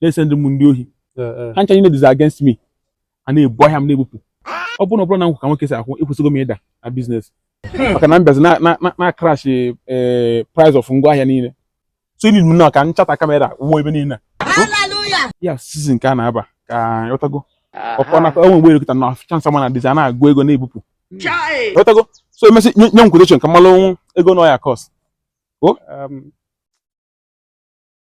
na-esendi m ndị ohi ha ncha niile dịzi against me a na-ebu ahịa m na-ebupụ ọ bụrụ na ọ bụrọ na m kwụ ka nwoke si akwụ ekwesịgo m ịda na business maka na m bịazi na-crash eh, price of ngwa ahịa niile so ili na ka m chọta camera wụọ ebe niile ya season ka a na-aba ka ị ghọtago ọkọ na e nwe mgbe elekọta na chance ma na dịzi a na-agụ ego na-ebupụ ị ghọtago so e mesị nye m quotation ka m malụ ego na ọ ya-cost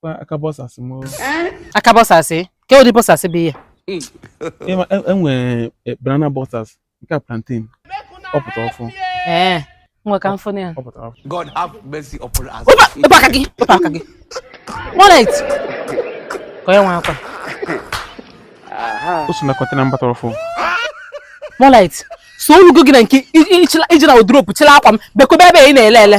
kwa aka boxers m o. aka boxers ke ụdị boxers bụ ihe a, e- e nwere eh, banana boxers nke a plantain ọ pụta ọfụ ee nwe ka m fụ ya ọ pụta ọfụ God have mercy upon us. wepụ aka gị wepụ aka gị wallet ka onye nwe akwa o so na container mbata ọfụ wallet so o lugo gị na nke i- i- ichila- ije na wardrobe chila akwa m bekobe ebe ị na-ele ele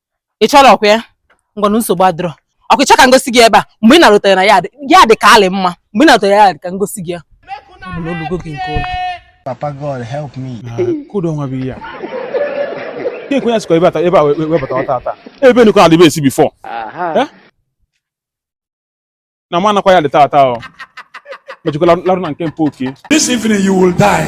ị chọrọ ọkwa ya ngwanụ nsogbu adịrọ ọkwa ị chọ ka m gosi gị ebe a mgbe ị na-arụtara na ya dị ya dị ka alị mma mgbe ị na-arụtara ya dị ka m gosi gị ya ọ bụ na o lugo gị nke ụlọ Papa God help me. ke ụdị nwa bụ ihe a Ihe ekwe ya sikwa ebe a ta- ebe a wee webata ọta ata ebe nukọ adịbe esi before Eh? na ma anakwa ya dị taa taa ọ mejikwa larụ na nke mpa oke This evening you will die.